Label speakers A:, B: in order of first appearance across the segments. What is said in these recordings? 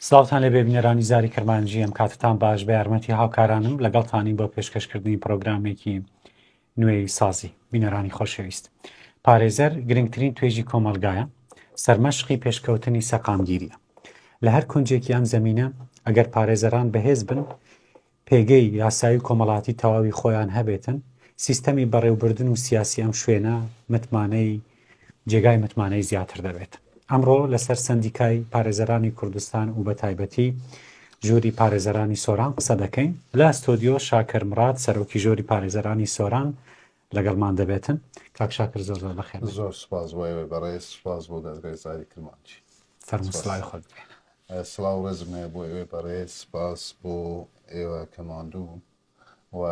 A: سلااوان لە بێبینەرانی زاری کرمانجی ئەم کاتتان باش بە یارمەتی هاوکارانم لەگەڵتانی بۆ پێشکەشکردنی پرۆگرامێکی نوێی سازی. بینەرانی خۆشەویست، پارێزەر گرنگترین توێژی کۆمەڵگایە، سەرمەشقی پێشکەوتنی سەقامگیرییە. لە هەر کونجێکی ئەم زەمینە، ئەگەر پارێزەران بەهێز بن، پێگەی یاسایی و کۆمەڵاتی تەواوی خۆیان هەبێتن، سیستەمی بەڕێوبردن و سیاسی ئەم شوێنە متمانەی جێگای متمانەی زیاتر دەبێت. ئەمڕۆ لەسەر سەندیکای پارێزەرانی کوردستان و بەتایبەتی ژووری پارێزەرانی سۆران قسە دەکەین لە ستۆدیۆ شاکر مراد سەرۆکی ژۆری پارێزەرانی سۆران لەگەڵمان دەبێتن کاک شاکر زۆر زۆر بەخێن زۆر سپاس بۆ ئێوەی
B: بەڕێز سپاس بۆ دەستڕێزاری کرمانچی سەرمسلای
A: خۆت سلااو ڕێزم
B: هەیە بۆ ئێوەی بەڕێز سپاس بۆ ئێوە کە ماندوو و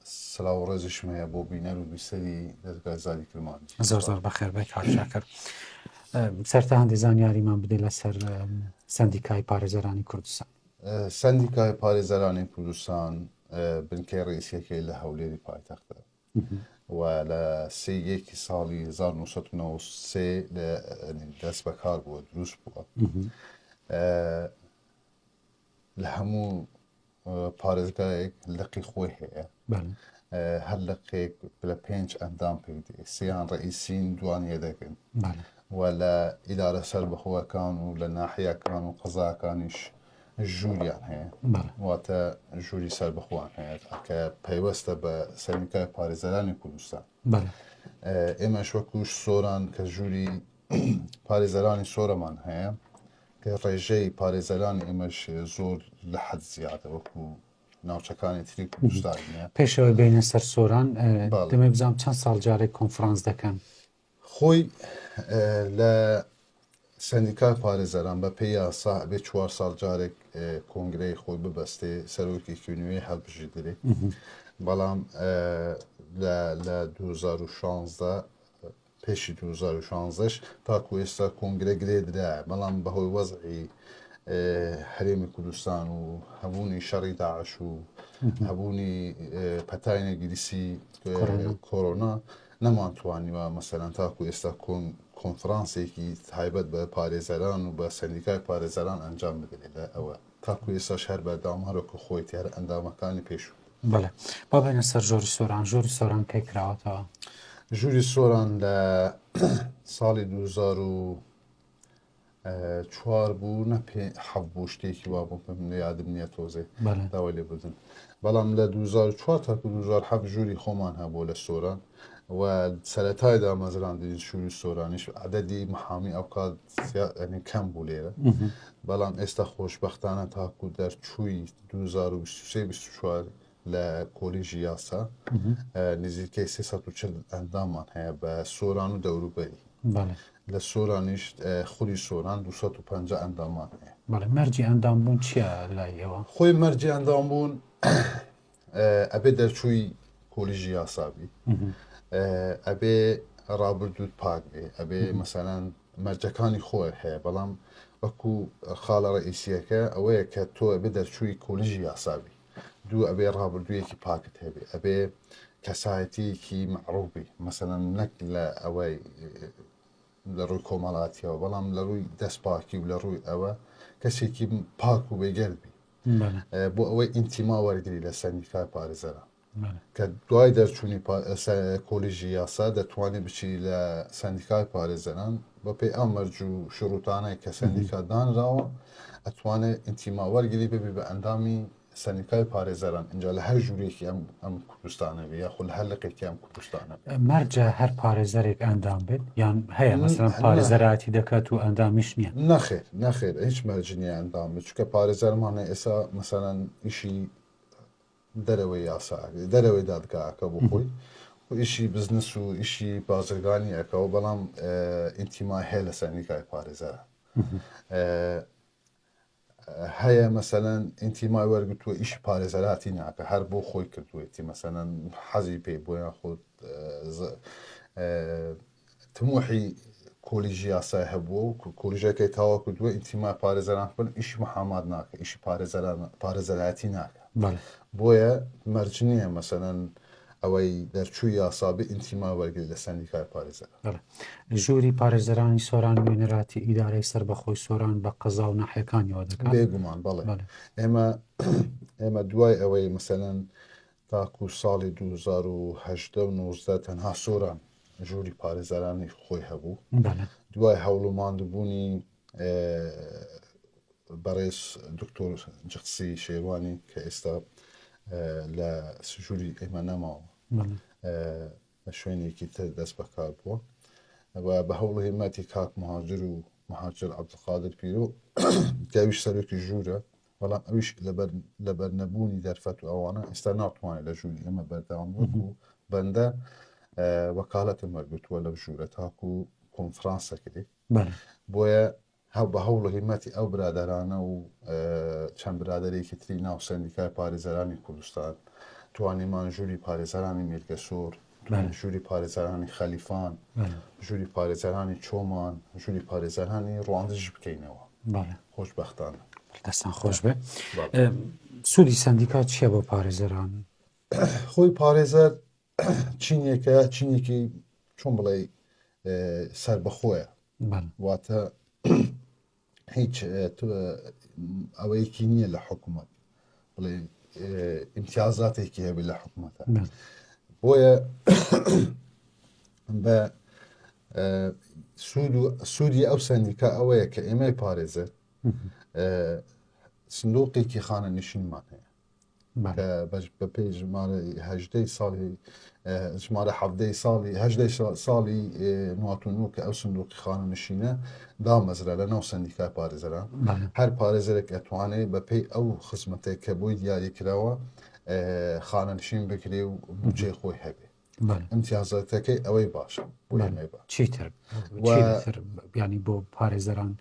B: سلاو و ڕێزیشم هەیە بۆ بینەر و بیسەری دەزگای زاری کرمانجی زۆر زۆر بەخێر بێت کاک
A: شاکر سەرتا هەندی زانیاریمان بدەیت لەسەر سندیکای پارێزەرانی کوردستان سندیکای
B: پارێزەرانی کوردستان بنکەی ڕئیسیەکەی لە هەولێری پایتەختە و لە سێیەکی ساڵی 1993 دەست بەکار بووە دروست بووە لە هەموو پارێزگایەک لقی خۆی هەیە هەر لقێک لە پێنج ئەندام پێی سیان ڕئیسین دوان یەدەگن و لە ئیدارە سەر بەخۆەکان و لە ناحیەکان و قەزاکانیش ژووریان هەیە واتە ژووری سەر بخۆان هەیە کە پەیوەستە بە سەرکای پارێزەرانی کوردستان ئێمەش وەکوش سۆران کە ژووری پارێزەرانی سۆرەمان هەیە ڕێژەی پارێزەرانی ئێمەش زۆر لە حەد زیادە وەکو ناوچەکانی تری کوردستان نیە. پێشەوەی بێنە سەر
A: سۆران دەمێ بزانم چەند ساڵ جارێک کۆنفرانس دەکەن. خۆی
B: لە سەندیکای پارێزەران بە پێی یاسا بێ چوار ساڵ جارێک کۆنگرەی خۆی ببەستێ سەرۆکێکی نوێ هەڵبژیدرێ بەڵام لە لە 2016 پێشی دوو هەزار و شانزە ش تاکو ئێستا کۆنگرە گرێ درایە، بەڵام بەهۆی وەزعی هەرێمی کوردستان و هەبوونی شەڕی داعش و هەبوونی پەتای نەگیریسی کۆرۆنا نەمان توانیوە مەسەرەن تاکو ئێستا کۆنفرانسێکی تایبەت بە پارێزەران و بە سەندیکای پارێزەران ئەنجام بدرێت لە ئەوە تاکو ئێستاش هەر بەردەوام هەر وەکو خۆیەتی هەر ئەندامەکانی پێشوو بوو. بەڵێ با
A: بێنە سەر ژۆری سۆران ژۆری سۆران کەی کراوەتەوە ژووری
B: سۆران لە ساڵی 2004 بوو نە پێ حەب بوو شتێکی وا بوو پێم لە یادم نییە تۆزێ بەڵێ. داوای لێ بدن بەڵام لە 2004 تاکو 2007 ژووری خۆمان هەبوو لە سۆران و سەرەتای دامەزراندنی شووی سۆرانیش عددی محامی ئەوکات یعنی کەم بوو لێرە بەڵام ئێستا خۆشببختانە تاکو دەرچووی 2024 لە کۆلیژی یاسا نزیکەی 340 ئەندامان هەیە بە سۆران و دەوروبەری لە سۆرانیش خولی سۆران 250 ئەندامان هەیە مەرجی ئەندام
A: بوون چیە لای ئێوە خۆی مەرجی ئەندام
B: بوون ئەبێ دەرچووی کۆلیژی یاسابی ئەبێ ڕابردووت پاک بێ ئەبێ مەسەلەن مەرجەکانی خۆی هەیە بەڵام وەکو خاڵە ڕئیسیەکە ئەوەیە کە تۆ ئەبێ دەرچووی کۆلیژی یاسابی دوو ئەبێ ڕابردوویەکی پاکت هەبێ ئەبێ کەسایەتیەکی معروبی مەسەەن نەک لە ئەوەی لە ڕووی کۆمەڵاتیەوە بەڵام لە ڕووی دەست پاکی و لە ڕووی ئەوە کەسێکی پاک و بێگەرد بی بۆ ئەوەی ئینتیما وەرگری لە سەندیکای پارێزەران کە دوای دەرچوونی کۆلیژی یاسا دەتوانێت بچی لە سندیکای پارێزەران بە پێی ئەو مەرج و شروتانەی کە سندیکا دانراوە ئەتوانێت ئینتیما وەرگری ببی بە ئەندامی سەندیکای پارێزەران ئینجا لە هەر ژوورێکی ئەم ئەم کوردستانە بێ یاخود لە هەر لقێکی ئەم کوردستانە بێ. مەرجە هەر
A: پارێزەرێک ئەندام بێت یان هەیە مەسەلەن نە- پارێزەراتی دەکات و ئەندامیش نییە نەخێر نەخێر هیچ
B: مەرج نییە ئەندام بێت چونکە پارێزەرمان هەیە ئێستا مەسەلەن ئیشی دەرەوەی یاسا ئەکرێ، دەرەوەی دادگاکە بۆ خۆی و ئیشی بزنس و ئیشی بازرگانی ئەکەوە بەڵام ئینتیمای هەیە لە سەندیکای پارێزەران ئە، هەیە مەسەلەن ئینتیمای وەرگرتووە ئیشی پارێزەراتی ناکە هەر بۆ خۆی کردوێتی مەسەەن حەزی پێی بۆ یان خۆت تموحی کۆلیژی یاسای هەبووە و کۆلیژەکەی تاوا کردووە ئینتیما پارێزەران بن ئیشی محامات ناکە ئیشی پارێزەران پارێزەراتی ناکە بۆیە مەرج نییە مەسەەن ئەوەی دەرچووی یاسا بێ ئینتیما وەرگری لە سەندیکای پارێزەران. بەڵێ.
A: ژووری پارێزەرانی سۆران نوێنەراتی ئیدارەی سەربەخۆی سۆران بە قەزا و ناحیەکانیەوە دەکات. بێگومان بەڵێ. بەڵێ.
B: ئێمە ئێمە دوای ئەوەی مەسەلەن تاکو ساڵی دوو هەزار و هەژدە و نۆزدە تەنها سۆران ژووری پارێزەرانی خۆی هەبوو. بەڵێ. دوای
A: هەوڵ و
B: ماندووبوونی بەڕێز دکتۆر جقسی شێوانی کە ئێستا لە سژووری ئێمە نەماوە
A: لە
B: شوێنێکی تر دەست بەکار بووە و بە هەوڵ هێمەتی کاک مهاجر و مهاجر عبدقادر پیرۆ کەویش سەرۆکی ژوورە بەڵام ئەویش لەبەر نەبوونی دەرفەت و ئەوانە ئێستا ناتوانێت لە ژووری ئێمە بەردەوام وەکو بەندە وەکالەتم وەرگتووە لەم ژوورە تاکو کۆنفرانسەکرێت بەڵێ. بۆیە هە بە هەوڵ و هیممەتی ئەو برادەرانە و چەند برادەرێکی تری ناو سەندیکای پارێزەرانی کوردستان توانیمان ژووری پارێزەرانی میرگەسوور بەڵێ. ژووری پارێزەرانی خەلیفان بەڵێ. ژووری پارێزەرانی چۆمان ژووری پارێزەرانی ڕواندزیش بکەینەوە بەڵێ. خۆشبەختانە دەستان خۆش
A: بێ بەڵێ. ئەم، سوودی سەندیکا چییە بۆ پارێزەران؟ خۆی
B: پارێزەر چینێکە چینێکی چۆن بڵێ سربەخۆیە واتە هیچ ئەوەیەکی نییە لە حکوومەت بڵێ امتیازاتێکی هەبێت لە حکوومەتە بۆیە بە سوود و سوودی ئەو سندیکا ئەوەیە کە ئێمەی پارێزێت سندوقێکی خانە نشینمان هەیە کە بەش بە پێی ژمارە هەژدەی ساڵی ژمارە حەفدەی ساڵی هەژدەی ساڵی نواتونو کە ئەو سندوقی خانە نشینە دامەزرا لە ناو سندیکای پارێزەران هەر پارێزەرێک ئەتوانێت بە پێی ئەو خزمەتێک کە بۆی دیاری کراوە خانەنشین بکرێ و بچێ خۆی هەبێ ئەمتیازەکەی ئەوەی باشە چیتر
A: بیانی بۆ پارێزەران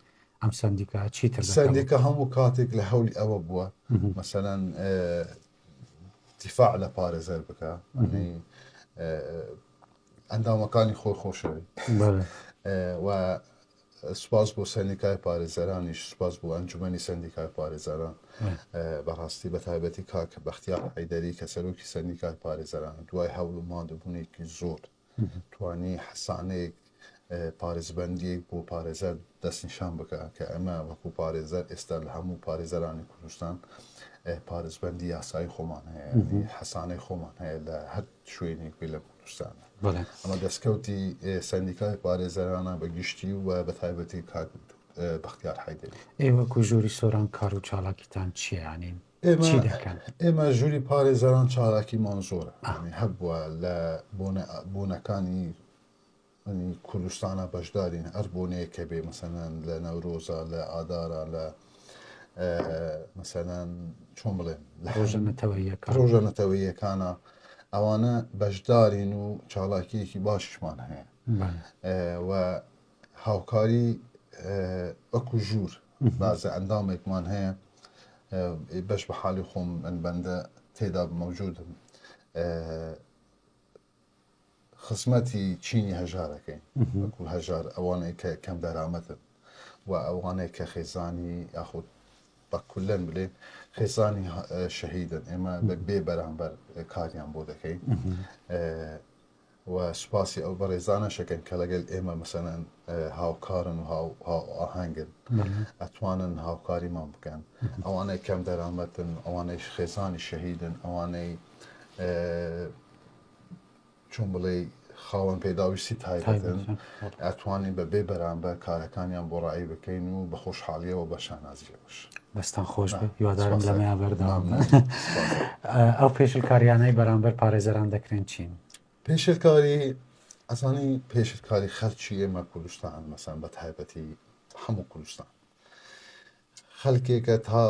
A: ئەم سندیکە چیتر سندیکە هەموو
B: کاتێک لە هەولی ئەوە بووە مەسەەن دیفاع لە پارێزەر بکە ئەندامەکانی خۆی خۆشەوی و سوپاس بۆ سەندیکای پارێزەرانیش سوپاس بۆ ئەنجومەنی سەندیکای پارێزەران بەڕاستی بەتایبەتی کاک بەختیار حەیدەری کە سەرۆکی سەندیکای پارێزەران دوای هەوڵ و ماندوبوونێکی زۆر توانی حەسانەیەک پارێزبندیەک بۆ پارێزەر دەستنیشان بکە کە ئەمە وەکو پارێزەر ئێستا لە هەموو پارێزەرانی کوردستان پارێزبندی یاسایی خۆمان هەیە حەسانەی خۆمان هەیە لە هەر شوێنێک بێ لە کوردستان ئەمە دەستکەوتی سەندیکای پارێزەرانە بە گشتی و بە تایبەتی کاک بەختیار حیدری ئێوە کو ژووری
A: سۆران کار و چاڵاکیتان چیانین چی دەکەن ئێمە ژووری
B: پارێزەران چالاکیمان زۆرە هەبووە لە بۆنەکانی کوردستانا بەشدارین هەر بۆنەیەکە بێ مەسەنان لە نەورۆزا لە ئادارا لە مەسەنان چۆن بڵێن لە ڕۆژە نەتەوەیەکانە ئەوانە بەشدارین و چاڵاکیەکی باشمان هەیە و هاوکاری وەکو ژوور بازە ئەندامێکمان هەیە بەش بە حالی خۆم من بەندە تێدا مەوجودم خزمەتی چینی هەژار ئەکەین وەکو هەژار ئەوانەی کە کەم دەرامەتن و ئەوانەی کە خێزانی یاخود بە کولەن بلێ خێزانی شەهیدن ئێمە بە بێ بەرامبەر کاریان بۆ دەکەین و سوپاسی ئەو بەڕێزانە شەکەن کە لەگەل ئێمە مەسەەن هاوکارن و ئاهنگن ئەتوانن هاوکاریمان بکەن ئەوانەی کەم دەرامەتن ئەوانەی خێزانی شەهیدن ئەوانەی چۆن بڵێی خاوەن پێداویستی تایبەتن ئەتوانین بە بێ بەرامبەر کارەکانیان بۆ ڕایی بکەین و بە خۆشحاڵیەوە بە شانازیەوەش دەستان خۆش
A: هیوادارم لەمەیا بەردەوام ئەو پێشلکاریانەی بەرامبەر پارێزەران دەکرێن چین پێشلکاری
B: ئەسانی پێشلکاری خەرچی ئێمە کوردستان مەسان بە تایبەتی هەموو کوردستان خەلکێکە تا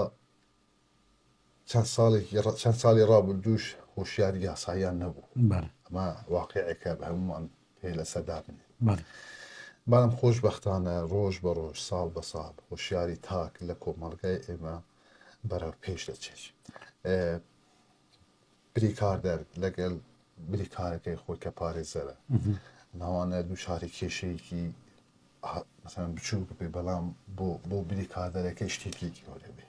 B: چەند ساڵێکی ڕ چەند ساڵی ڕابردووش هۆشیاری یاساییان نەبوو بەڵێ ئەمە واقیعێکە بە هەمووان پێ لەسەر دابنێ بەڵێ بەڵام خۆشبەختانە ڕۆژ بە ڕۆژ ساڵ بە ساڵ هۆشیاری تاک لە کۆمەڵگای ئێمە بەرەو پێش دەچێت ئێ بریکاردەر لەگەل بریکارەکەی خۆی کە پارێزەرە ناوانە دووچاری کێشەیەکی مثلا بچووک بێ بەڵام بۆ بۆ بریکاردەرەکەی شتێکی گەورە بێ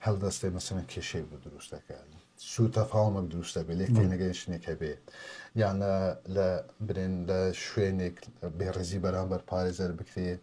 B: هەڵدەستێ مەسەن کێشەیەک بۆ دروست دەکات سوو تەفاومەک دروستە بێ لێک نەگەنشتێکە بێ یانە لە برێن لە شوێنێک بێڕزی بەرامبەر پارێزەر بکرێت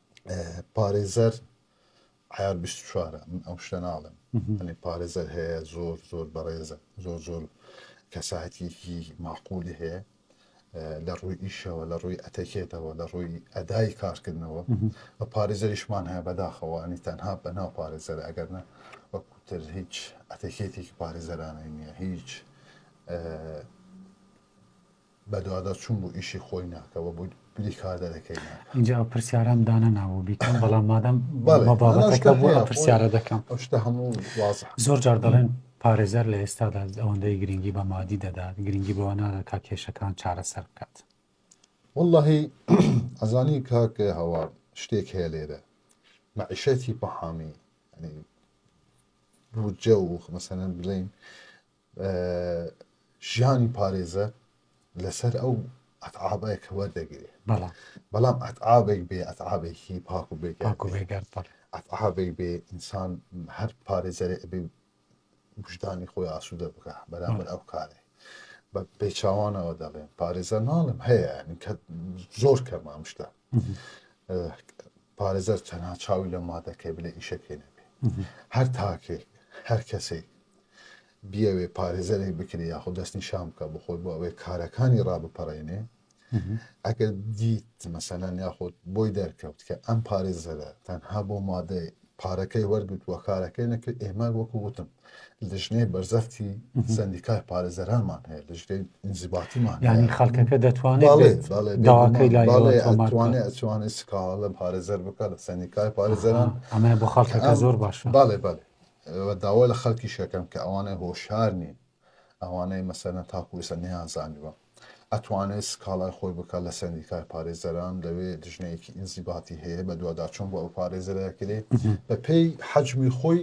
B: پارێزەر عیار بیست و چوارە من ئەو شتە ناڵێم ئەنی پارێزەر هەیە زۆر زۆر بەڕێزە زۆر زۆر کەساتیکی ماقولی هەیە لە ڕووی ئیشەوە لە ڕووی ئەتەکێتەوە لە ڕووی ئەدای کارکردنەوە بە پارێزەریشمان هەیە بەداخەوە ئەنی تەنها بەناو پارێزەر ئەگەرنا وەکوتر هیچ ئەتەکێتێکی پارێزەرانەی نییە هیچ بەدواداچوون بۆ ئیشی خۆی ناکە و بۆ بریکاردەرەکەی ناکە. ئینجا ئەو پرسیارەم
A: دانەناوە بیکەم بەڵام مادەم بەڵێ بە بابەتەکە نەناو شتە بوو هەیە ئەو خۆی پرسیارە دەکەم. ئەو شتە هەموو
B: وازحە. زۆر جار دەڵێن
A: پارێزەر لە ئێستادا ئەوەندەی گرنگی بە مادی دەدات، گرنگی بەوە نادات تا کێشەکان چارەسەر بکات.
B: وەڵڵاهی ئەزانی کاک هەوار شتێک هەیە لێرە مەعیشەتی پەحامی یانی بودجە و مەسەلەن بڵێین ژیانی پارێزە لەسەر ئەو ئەتعابە کە وەردەگرێ بەڵام ئەتعابێک بێ ئەتعابێکی پاک و بێگەرتعابێک بێ ئینسان هەر پارێزەرێ ئەبێ بژدانی خۆی ئاسوودە بکە بەرامبەر ئەو کارێ بە پێچوانەوە دەڵێن پارێزە ناڵم هەیە کە زۆر کەمام شتە پارێزەر چەنها چاوی لە مادەکەی بلێ ئیشەکەی نەبێ هەر تاکێک هەر کەسێک بیەوێ پارێزەرێک بکرێ یاخۆ دەستنیشان بکە بۆ خۆی بۆ ئەوەی کارەکانی ڕابپەڕێنێ ئەگەر دیت مەسەلەن یاخۆ بۆی دەرکەوت کە ئەم پارێزەرە تەنها بۆ مادەی پارەکەی وەرگتووە کارەکەی نەکرد ئێمە وەکو وتم لژنێ بەرزەفتی سندیکای پارێزەرانمان هەیە لژنێ ئینزیباتیمان ینی خەڵکەکە
A: دەتوانێت داواکەی لایوانێ
B: ئەچوانێت سکاڵە لە پارێزەر بکە لە سندیکای پارێزەران ئەمە بۆ خەڵکەکە
A: زۆر باش باڵێ باێ و
B: داوا لە خەلکیش ئەکەم کە ئەوانەی هۆشیار نین ئەوانەی مەسەلەن تاکو ئیستا نەیانزانیوە ئەتوانێت سکاڵای خۆی بکات لە سەندیکای پارێزەران لەوێ دژنەیەکی ئینزیباتی هەیە بەدواداچون بۆ ئەو پارێزەرە ئەکرێ بە پێی حەجمی خۆی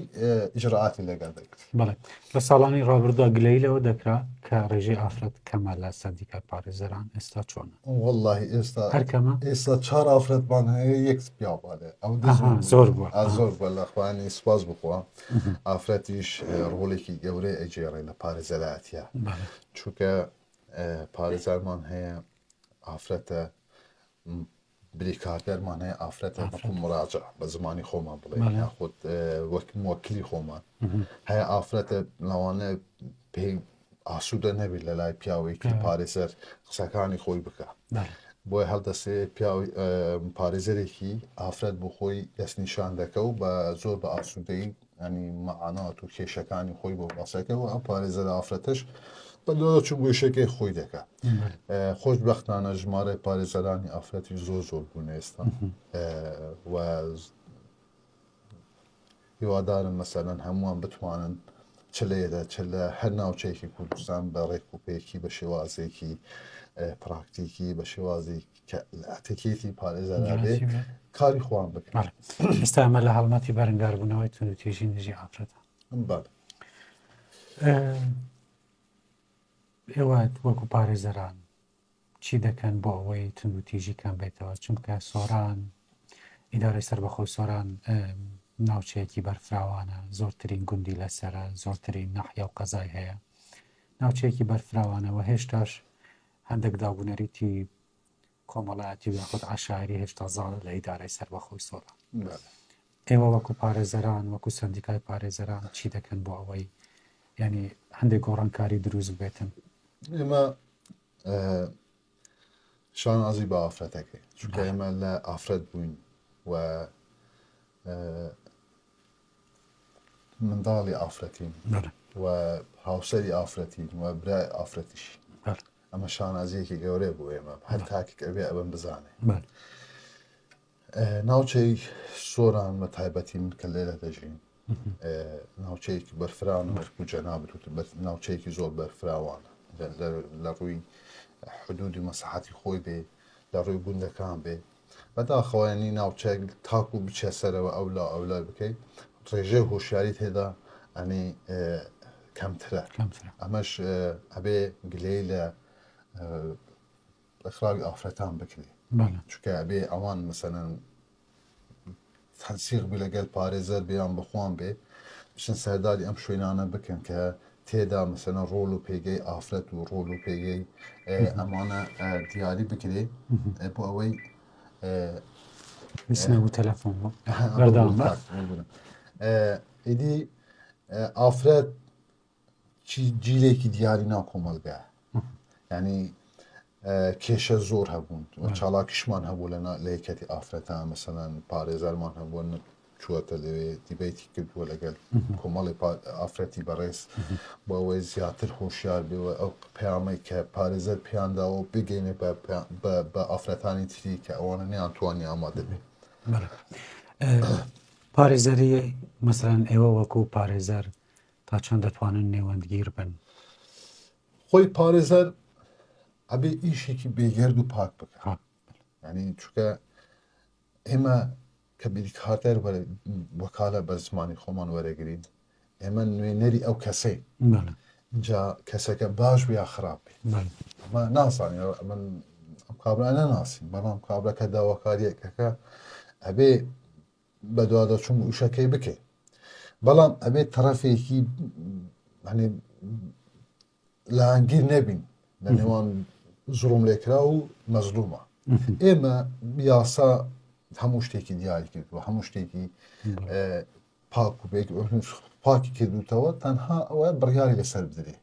B: ئیجرائاتی لەگەڵ دەگرێت بەڵێ لە ساڵانی
A: ڕابردودا گلەی لەوە دەکرا کە ڕێژەی ئافرەت کەمە لە سەندیکای پارێزەران ئێستا چۆنە وەڵاهی ئێستا
B: هەر کەمە ئێستا
A: چهار ئافرەتمان
B: هەیە یەک پیاو بالێ ئەو دز ئەها بوو زۆر بووە ئا
A: زۆر بە لە خوانی
B: سوپاس بخوا ئافرەتیش اه، ڕۆڵێکی گەورەی ئەگێڕێ لە پارێزەرایەتیە بەڵێ چونکە اه، پارێزەرمان هەیە ئافرەتە م، بریکاردەرمان هەیە ئافرەتە ئافرەت. بەکو مراجع بە زمانی خۆمان بڵێ بەڵێ. یاخود اه، وەک موەکلی خۆمان هەیە ئافرەتە لەوانە پێی ئاسوودە نەبی لە لای پیاوێکی پارێزەر قسەکانی خۆی بکە بۆی هەڵدەسێ پیاوی پارێزەرێکی ئافرەت بۆ خۆی دەستنیشان دەکە و بە زۆر بە ئاسوودەی ئەنی مەعانات و کێشەکانی خۆی بۆ باسەکەەوە ئەم پارێزەر ئافرەتش بە لۆ چون گوێشەکەی خۆی دەکە خۆش بەختانە ژمارە پارێزەرانی ئافرەتی زۆر زۆر بوون ئێستا و هیوادارم مەسەلەن هەمووان بتوانن چ لە ئێرە چ لە هەر ناوچەیەکی کوردستان بە ڕێک و پێکی بە شێوازێکی پراکتیکی بە شێوازی کە ئەتەکێتی پارێزەرابێ کاری خۆیان بکەن ئێستا ئەمە لە
A: هەڵمەتی بەرەنگاربوونەوەی تون و تێژی نژی ئافرەتە ئێوە وەکو پارێزەران چی دەکەن بۆ ئەوەی توندوتیژی کەم بێتەوە چونکە سۆران ئیدارەی سربەخۆی سۆران ناوچەیەکی بەرفراوانە زۆرترین گوندی لەسرە زۆرترین نەحیا و قەزای هەیە ناوچەیەکی بەرفراوانەوە هێشتاش هەندێک دابوونەریتی کۆمەڵایەتی یاخود عشاعری هێشتا زاڵە لە ئیدارەی سربەخۆی سۆران ئێوە وەکو پارێزەران وەکو سەندیکای پارێزەران چی دەکەن بۆ ئەوەی یانی هەندێک گۆڕانکاری دروست ببێتن؟ ئێمە
B: شانازی بە ئافرەتەکەی چونکە ئێمە لە ئافرەت بووین و منداڵی ئافرەتین و هاوسەری ئافرەتین و برای ئافرەتیش ئەمە شانازیەکی گەورەیە بۆ ئێمە هەر تاکێک ئەوێ ئەوەم بزانێ ناوچەی سۆران بە تایبەتی من کە لێرە دەژین ناوچەیەکی بەرفراون وەکو جەنابت وت بە ناوچەیەکی زۆر بەرفراوانە لە ڕووی حدودی مەسەحەتی خۆی بێ لە ڕووی گوندەکان بێ بەداخەوەیانی ناوچەک تاکو بچە سەرەوە ئەو لا ئەو لای بکەیت ڕێژێ هۆشیاری تێدا ئەنی کەمترە ئەمەش ئەبێ گلەی لە ڕێکخراوی ئافرەتان بکرێ چکە بێ ئەوان مەسەەن تەنسیق بی لەگەل پارێزەر بێیان بخۆن بێ بچن سەرداری ئەم شوێنانە بکەن کە تێدا مەسەە ڕۆل و پێگەی ئافرەت و ڕۆل و پێگەی ئەمانە دیاری بکرێ بۆ ئەوەی
A: تەلەفۆن بەرداڵ
B: ئیدی ئافرەت چی جیلێکی دیاری ناو کۆمەلگا ینی کێشە زۆر هەبوون چاڵاکیشمان هەبوو لە لە یەکەتی ئافرەتان مەسەەن پارێزارمان هەبوون چووەتە لەوێ دیبیتی کردووە لەگەل کۆمەڵی ئافرەتی بەڕێز بەوەی زیاتر هۆشیار بێەوە ئەو پامەی کە پارێزەر پیانداوە بگەینێ بە ئافرەتانی تری کە ئەوانە نیان توانی ئامادەبێ
A: پارێزەری مەسەرەن ئێوە وەکو پارێزەر تا چەند دەتوانن نێوەندگیر بن؟
B: خۆی پارێزەر ئەبێ ئیشێکی بێگەرد و پاک بکە ینی چکە ئێمە کە بیریکارتەر وەکالە بە زمانی خۆمان وەرەگرین ئێمە نوێنەری ئەو کەسەی جا کەسەکە باش بیا خراپ ئەمە نازانانی من ئەم کابرا نەناسین بەڵام کابراکە داواکاریەکەکە ئەبێ بەدواداچوون وشەکەی بکەین بەڵام ئەبێت تەرەفێکی لەهانگیر نەبین لە نێوان زڵم لێکرا و مەزلومە ئێمە یاسا هەموو شتێکی دیاری کرد و هەموو شتێکی پاک و پاکی کردوتەوە تەنها ئەوە بڕیاری لەسەر بدرێت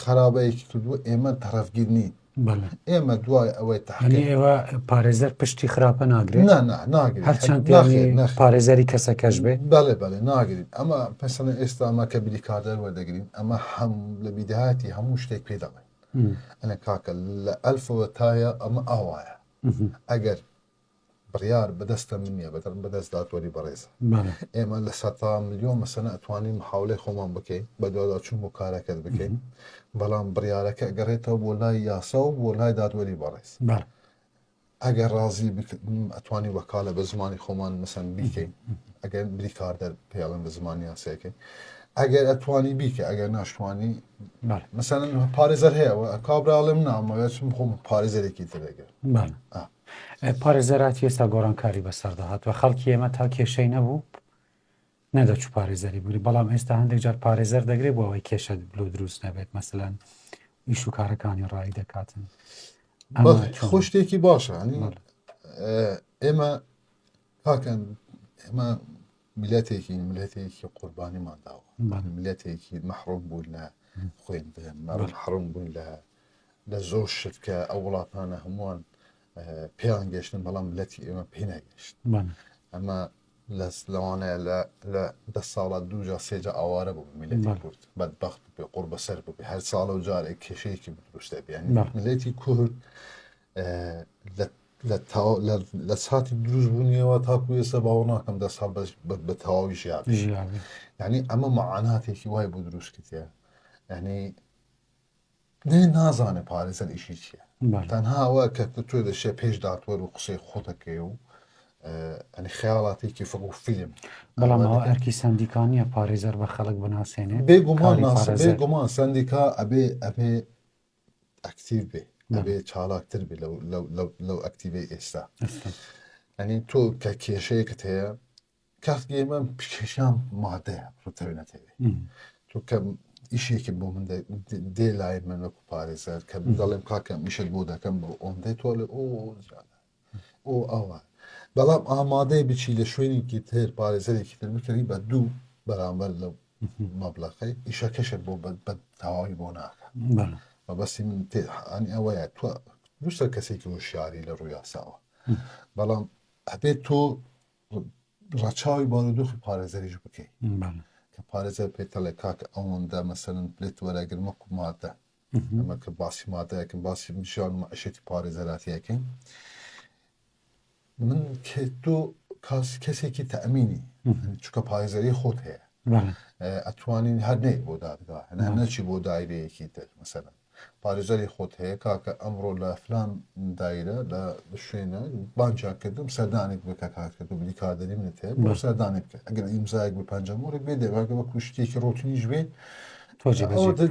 B: خەرابەیەکی کردووە ئێمە تەرەفگیر نین ئێمە دوای ئەوەی تاێوە
A: پارێزەر پشتی خراپە ناگرێت هەرچەند پارێزەری کەسەکەش بێ بەڵێ بەڵێ ناگرین
B: ئەمە پسەن ئێستا ئەمە کە بری کاردەر وەردەگرین ئەمە هەم لە بیداهاتی هەموو شتێک پێ دەڵێن ئەە کاکە لە ئەلفەوە تایە ئەمە ئاوایە ئەگەر بڕیار بەدەستە من نیە بەدەر بەدەست دادوەری بەڕێزە ئێمە لە سەتا ملیۆن مەسەنە ئەتوانین محاولەی خۆمان بکەین بە دوادا چون بۆ کارەکەت بکەین بەڵام بڕیارەکە گەڕێتەوە بۆ لای یاسا و بۆ لای دادوەری بەڕێز ئەگەر ڕازی ئەتوانی وەکالە بە زمانی خۆمان مەسەن بیکەین ئەگەر بریکاردەر پێڵم بە زمانی یاسەکەی ئەگەر ئەتوانی بیکە ئەگەر ناشتوانی مەسەن پارێزەر هەیەەوە کابراڵێم نامەوێت خۆم پارێزەرێکی ترێگەر پارێزەراتی
A: ئێستا گۆڕانکاری بەسەردا هاتوە خەڵکی ئێمە تا کێشەی نەبوو نەدەچوو پارێزەری بگری بەڵام ئێستا هەندێک جار پارێزەر دەگرێت بۆ ئەوەی کێشە بلۆ دروست نەبێت مەسەلەن ئیش و کارەکانی ڕایی دەکاتن
B: خۆ شتێکی باشە ئێمە پاکەن ئێمە میلەتێکی میلەتێکی قوربانیمان داوە ملەتێکی مەحڕۆم بوون لە خوێندن مەڕ حڕم بوون لە لە زۆر شت کە ئەو وڵاتانە هەمووان پێیان گەشتن بەڵام لەتی ئێمە پێ ناگەشت ئەمە لەس لەوانەیە لە دە ساڵە دوجا سێجا ئاوارە بوو میلەتی کورد بەدبخت بێ قوڕ بەسەر بوو هەر ساڵە و جارێک کێشەیەکی دروستە بیان ملەتی کورد لە ساتی دروست بوونیەوە تاکو ئێستا باوە ناکەم دە ساڵ بە تەواوی ژیاب ینی ئەمە معاناتێکی وای بۆ دروستکردە ینی نەی نازانێ پارێزەر ئیشی چیە تەنها ئەوە کە تۆ دەشێ پێش داتوەر و قسەی خۆتەکەی و ئەنی خەیاڵاتێکی فڕ و فیلم بەڵام ئەرکی
A: سندیکانیە پارێزەر بە خەڵک بناسێنێ بێگومان بێگومان
B: سندیکا ئەبێ ئەبێ ئەکتیو بێ ئەبێ چاڵاکتر بێ لەو ئەکتیڤی ئێستا ئەنی تۆ کە کێشەیەکت هەیە کاک ئێمە پیکێشان مادەیە ڕتەوێ نەتەوێ چونکە ئیشێکی بۆ من دێ لای من وەکو پارێزەر کە دەڵێم کاکەم میشت بۆ دەکەم بۆ ئۆن دێ تۆ لە ئۆ ئۆ ئەوە بەڵام ئامادەی بچی لە شوێنێکی تر پارێزەرێکی تر بکەنی بە دوو بەرامبەر لە مەبلەقەی ئیشەکەشە بۆ بە تەواوی بۆ ناکە مەبەستی
A: من
B: تێحانی ئەوەیە تو دوسە کەسێکی هۆشیاری لە ڕوویاساوە بەڵام ئەبێت تۆ ڕەچاوی بارودۆخی پارێزەریش بکەی کە
A: پارێزەر
B: پێتەڵێ کاک ئەوەندە مەسەرن پلێت وەرەگر مەکو مادە ئەمە کە باسی مادەکەم باسی ژان عشێتی پارێزەراتیەکەین من کە تۆ کاس کەسێکی تەمینی چکە پارێزەری خۆت هەیە
A: ئەتوانین
B: هەر نەیت بۆ دادگا نەچی بۆ دایرەیەکی تر مەسەرن پارێزەری خۆت هەیە کاکە ئەمڕۆ لە فلان دایرە لە شوێنە بانجا کردم سەردانێک بکە کات کە تۆ بلی کاردەری منت هەیە بۆ سەردانێ بکە ئەگەر ئیمزایەک بە پەنجەمۆرێک بێ دەباگە بە کوشتێکی ڕۆتنیش بێ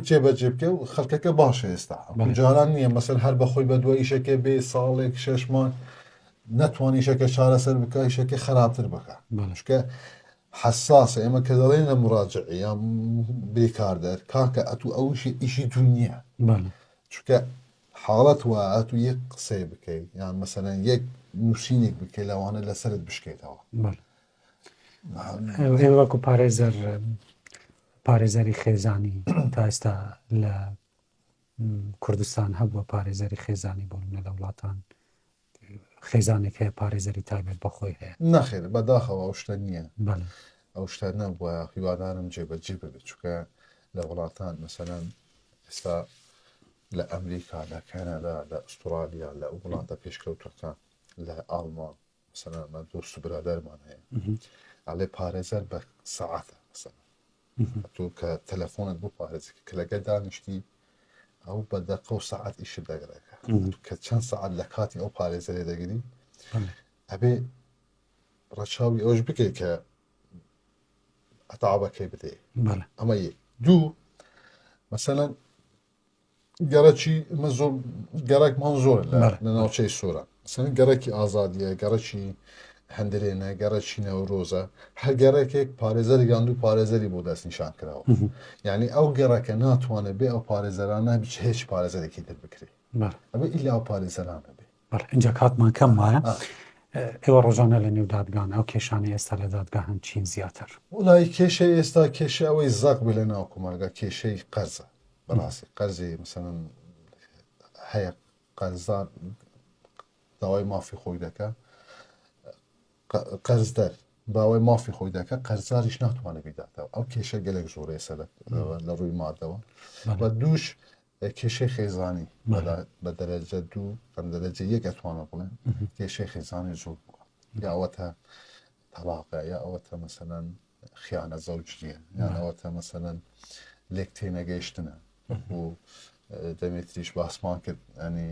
A: جێبەجێ
B: بکە و خەڵکەکە باشە ئێستا جاران نییە مەسەر هەر بەخۆی بە دوای ئیشەکە بێ ساڵێک شەشمان نەتوانیشەکە چارەسەر بکە ئیشەکە خراپتر بکە شکە حەساسە ئێمە کە دەڵێینە مڕاجعی یا بێ کاردەر کاکە ئەتوو ئەوشی ئیشی تو نییە چکە حاڵەت وایە ئەتوو یەک قسەی بکەی یان مەسەەن یەک نووسینێک بکەی لەوانە لەسرت بشکێتەوە
A: وەکو پارێزەر پارێزەری خێزانی تا ئێستا لە کوردستان هەبووە پارێزەری خێزانی بۆ منە لە وڵاتان خێزانێک هەیە پارێزەری تایبەت بە خۆی هەیە. نەخێر بەداخەوە ئەو
B: شتە نییە بەڵێ ئەو
A: شتە نەبووە
B: هیوادارم جێبەجێ ببێت چونکە لە وڵاتان مەسەلەن ئێستا لە ئەمریکا لە کەنەدا لە ئوسترالیا لە ئەو وڵاتە پێشکەوتەکان لە ئاڵمان مەسەلەن من دۆست و برادەرمان هەیە ئەڵێ پارێزەر بە سەعاتە مەسەلەن تۆ کە تەلەفۆنت بۆ پارێزەکە کە لەگەر دانیشتی ئەو بە دەقە و سەعات ئیش دەگەڕێکە کە چەند سەعات لە کاتی ئەو پارێزە لێ دەگری ئەبێ ڕەچاوی ئەوش بکەیت کە ئەتاعبەکەی بدەیت ئەمە یەک دوو مەسەەن گەڕەکی من زۆر گەڕێکمان زۆر لە ناوچەی سۆرە سەن گەڕێکی ئازادیە گەڕەکی هەندرێنە گەڕەکی نەورۆزە هەر گەڕێکێک پارێزەر گاند و پارێزەری بۆ دەست نیشان کراوە یعنی ئەو گەڕەکە ناتوانێت بێ ئەو پارێزەرانە بچ هیچ پارێزەرێکی تر بکرێت ئەمە ئیلا ئەو پارێزەرانە بێ بەڵێ ئینجا کاتمان
A: کەم وایە ئێوە ڕۆژانە لە نێو دادگان ئەو کێشانە ئێستا لە دادگا هەن چین زیاتر وڵی کێشە
B: ئێستا کێشە ئەوەی زەق بێ لە ناو کومەلگا کێشەی قەرزە بەڕاستی قەرزی مسەن هەیە قەرزدار داوای مافی خۆی دەکە قەرزدەر باوای مافی خۆی دەکە قەرزاریش ناتوانێت بیداتەوە ئەو کێشە گەلێک زۆرەیە سەر لە ڕووی مادەوە بە دووش کێشەی خێزانی بە دەرەجە دوو بەم دەرەجە یەک ئەتوانە بڵێن کێشەی خێزانی زۆر بووە یاوەتە تەلاقە یا ئەوەتە مەسەەن خیانە زەوجریە یانەوەتە مەسەەن لێک تێنەگەیشتنە وەکو دەمێتریش باسمان کرد ئەنی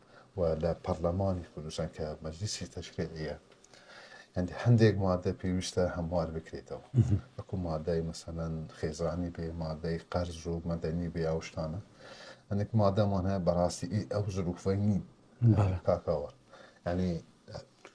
B: و لە پەرلەمانی کوردستان کە مەجلیسی تەشریعیە هەندێک هەندێک مادە پێویستە هەموار بکرێتەوە وەکو مادای مەسەەن خێزانی بێ مادەی قەرز و مەدەنی بێ ئەوشتانە هەندێک مادەمان هەیە بەڕاستی ئەو زروفەی نین کاکەوە ینی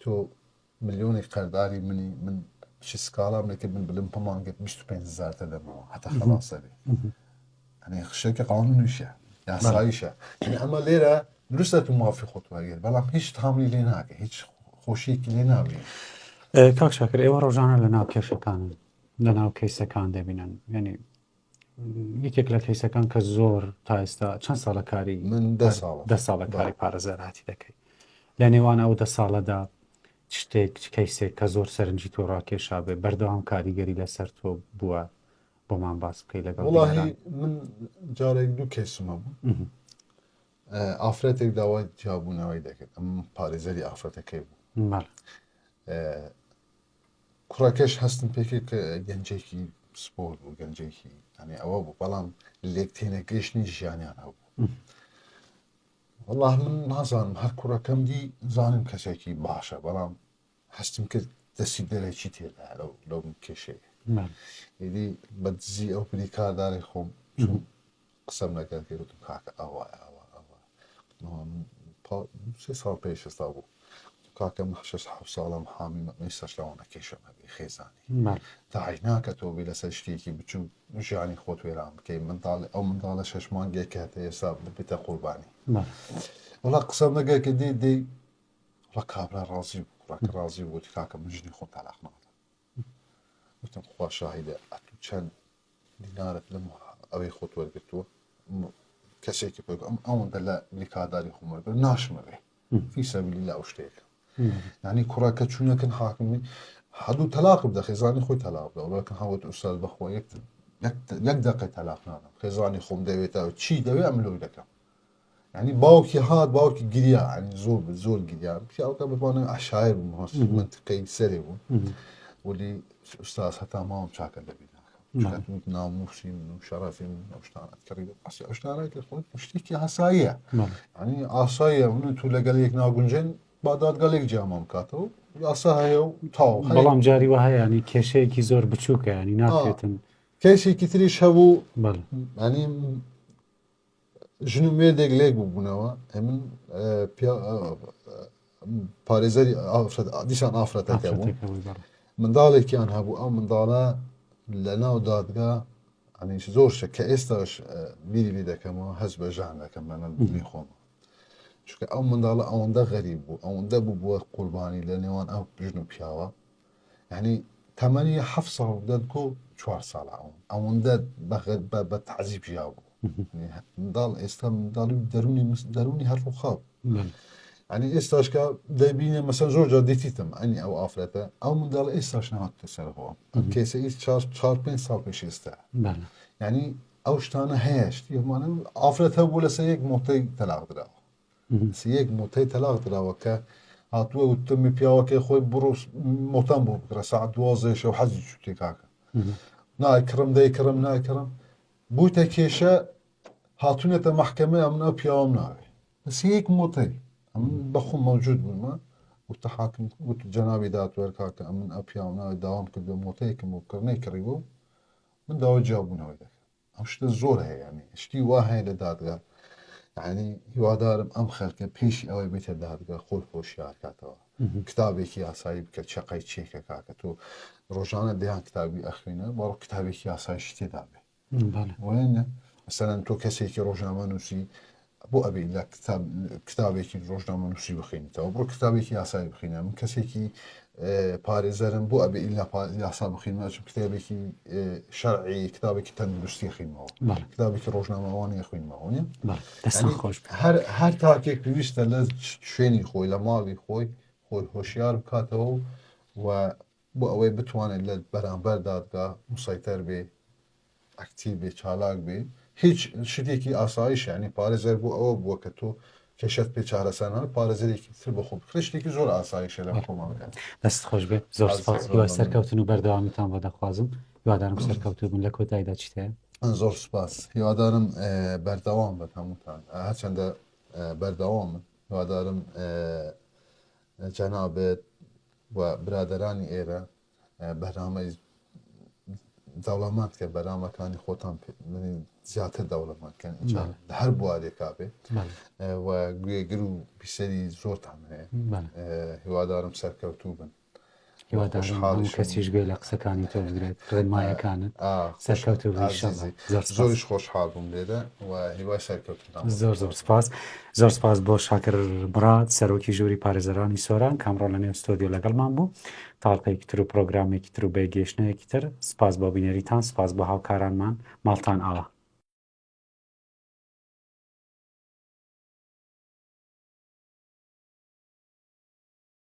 B: تۆ ملیۆنێک قەرداری منی من بچی سکاڵام لەکرد من بلم پمانگت بیست و پێنج هەزار دەدەمەوە هەتا خەڵاسە بێ ئەنێ خشێکە قانونیشە یاساییشە یعنی ئەمە لێرە دروستە تو مافی خۆت وەرگێر بەڵام هیچ تامی لێ ناکە هیچ خۆشیەکی لێ ناوێ کاک
A: شاکر ئێوە ڕۆژانە لە ناو کێشەکانن لە ناو کەیسەکان دەبینن یعنی یەکێک لە کەیسەکان کە زۆر تا ئێستا چەند ساڵە کاری من دە ساڵ دە
B: ساڵە کاری پارێزەراتی
A: دەکەی لە نێوان ئەو دە ساڵەدا شتێک چ کەیسێک کە زۆر سەرنجی تۆ ڕاکێشا بێ بەردەوام کاریگەری لەسەر تۆ بووە بۆمان باس بکەی لەگەڵ وڵاهی من
B: جارێک دوو کەیسمە بوو ئافرەتێک داوای جیابوونەوەی دەکرد ئەم پارێزەری ئافرەتەکەی بوو کوڕەکەش هەستم پێکرد کە گەنجێکی پسپۆر بوو گەنجێکی ئەنێ ئەوە بوو بەڵام لێک تێنەگەشتنی ژیانیان هەبوو والله من نازانم هەر کوڕەکەم دی زانم کەسێکی باشە بەڵام هەستم کرد دەسی دەرەکی تێدا لەو لەو کێشەیە ئیدی بە دزی ئەو بریکارداری خۆم قسەم لەگەر کرد وتم کاکە ئەوە ئەوە ئەوە سێ ساڵ پێش ئێستا بوو کاکە من شش حەفت ساڵم حامی مەمەیستا شەوانەکەیشم هەبێ خێزانی داعی ناکە تۆ بێ لەسەر شتێکی بچوو ژیانی خۆت وێران بکەی منداڵ ئەو منداڵە شەش مانگێک کە هەتە ئێستا ببێتە قوربانی وڵا قسەم لەگەر کە دێ دێ ڕە کابرا ڕازی بوو ڕاکە ڕازی بوو کاکە من ژنی خۆم تالاق ناڵ وتم خوا شاهیدە ئەتوو چەند دینارت لەم ئەوەی خۆت وەرگتووە کەسێکی پێ ئەم ئەوەندە لە بریکاداری خۆم وەرگەر ناشمەوێ فی سەبیلی لا ئەو شتێکە ینی کوڕە کە چوونەکەن حاکمی هەردوو تەلاق بدە خێزانی خۆی تەلاق بدە وڵەکە هاوت ئوستاد بەخۆ یەک دەقی تەلاق نانم خێزانی خۆم دەوێتەوە چی دەوێ ئەم لۆی دەکەم یانی باوکی هات باوکی گریا ینی زۆر زۆر گریا پیاوەکە بتوانێت عشایر بووم هەست منتقی سەرێ بوو ولی ئوستاز هەتا ماوەم چاکە دەبی ناکەم ناموسی من و شەرافی من ئەوشتانات کڕی ئەسی ئەوشتانە کە خۆت شتێکی هەساییە ینی ئاساییە من تو لەگەل یەک ناگونجێن بادادگەلێک جیامان بکاتەوە یاسا هەیە و تاو بەڵام جاری وە هەیەنی
A: کێشەیەکی زۆر بچووکە ینی ناکرێتن کەسێکی تریش
B: هەبوو ینی ژن و مێردێک لێک ببوونەوە ئەمن پارێزەری ئافرەت دیسان ئافرەتەکە بوو منداڵێکیان هەبوو ئەو منداڵە لە ناو دادگا ئەنیش زۆر شە کە ئێستاش بیری بی دەکەمەوە هەز بە ژان دەکەم لە نەبوونی خۆم چونکە ئەو منداڵە ئەوەندە غەریب بوو ئەوەندە بوو بووە قوربانی لە نێوان ئەو ژن و پیاوە یانی تەمەنی حەفت ساڵ و دە گۆ چوار ساڵە ئەوم ئەوەندە بەغەر بە بە تعزیب ژیا بوو داڵ ئێستا منداڵی و دەرونی مس- دەرونی هەر ڕووخاو بەڵێ. ئەنی ئێستاشکە دەبینێ مەسەن زۆر جار دیتیتم ئەنی ئەو ئافرەتە ئەو منداڵ ئێستاش نەهاتە سەرەوە ئەم کێسە ئی چار چار پێنج ساڵ پێش ئێستا بەڵێ. یعنی ئەو شتانە هەیە شتی هەمانە ئافرەت هەبوو لەسەر یەک مۆتەی تەلاق دراوە سی یەک موتەی تەلاق دراوە کە هاتووە وتمی پیاوەکەی خۆی بڕۆ مۆتان بۆ بکڕە ساعت دوازدەی شەو حەزی چوتێ کاکە نای کڕم دەی کڕم نای کڕم بوویتە کێشە هاتوونەتە محکمە ئەم ناو پیاوەم ناوێ سی یەک موتەی ئەم بەخۆ مەوجود بوومە وتە حاکم وت جەناوی داتوەر کاکە ئەمن ئە پیاو ناوێ داوام کرد بە مۆتەیەکم و کڕنەی کڕیوە و من داوای جیابوونەوەی دەکەم ئەم شتە زۆر هەیە یانی شتی وا هەیە لە دادگا یعنی هیوادارم ئەم خەلکە پێشی ئەوەی بێتە دادگا خۆی خۆشیار کاتەوە کتابێکی یاسایی بکە چقای چێکە کاکە تۆ ڕۆژانە دەیان کتابی ئەخوێنە بەڕ کتابێکی یاسای شتێدا بێ وایە مەسەرەن تۆ کەسێکی ڕۆژنامە نووسی بۆ ئەبی لە کتاب کتابێکی ڕۆژنامە نووسی بخینیتەوە بڕۆ کتابێکی یاسایی بخینە من کەسێکی پارێزەرم بۆ ئەبێ ئیلا یاسا بخینمە چ کتابێکی شەرعی کتابێکی تەندروستی خوینمەوە کتابێکی ڕۆژنامەوانی خوینمەوە خۆش هەر هەر تاکێک پێویستە لە شوێنی خۆی لە ماڵی خۆی خۆی هۆشیار بکاتەوە و بۆ ئەوەی بتوانێت لە بەرامبەر دادگا مسەیتەر بێ، ئەکتیڤ بێ، چالاک بێ، هیچ شتێکی ئاسایش یانی پارێزەر بۆ ئەوە بووە کە تۆ کێشەت پێ چارەسەر نەبێت پارێزەرێکی تر بۆ خۆ بکڕی، شتێکی زۆر ئاسایشە لەم کۆمەڵگا. دەستت خۆش بێت،
A: زۆر سوپاس، هیوای زۆر مەمنون. سەرکەوتن و بەردەوامیتان بۆ دەخوازم، هیوادارم سەرکەوتوو بن، لە کۆتایدا چیت هەیە؟ زۆر سوپاس،
B: هیوادارم بەردەوام بن هەمووتان، هەرچەندە بەردەوامن، هیوادارم جەنابت و برادەرانی ئێرە بەرنامەی دەوڵەمەند کە بەرنامەکانی خۆتان زیاتر دەوڵەمەند کەن لە هەر بوارێکا بێت و گوێگر و پیسەری زۆرتان هەیە هیوادارم سەرکەوتوو بن هیوادارم
A: هەموو کەسیش گوێ لە قسەکانی تۆ بگرێت ڕێنمایەکانت سەرکەوتوو بی ئینشەڵا زۆر
B: زۆریش خۆشحاڵ بووم لێرە و هیوای سەرکەوتنتان زۆر زۆر سپاس
A: زۆر سپاس بۆ شاکر بڕات سەرۆکی ژووری پارێزەرانی سۆران کامڕۆ لە نێو ستۆدیۆ لەگەڵمان بوو تاڵقەیەکی تر و پرۆگرامێکی تر و بەیگەیشتنەیەکی تر سپاس بۆ بینەریتان سپاس بۆ هاوکارانمان ماڵتان ئاوا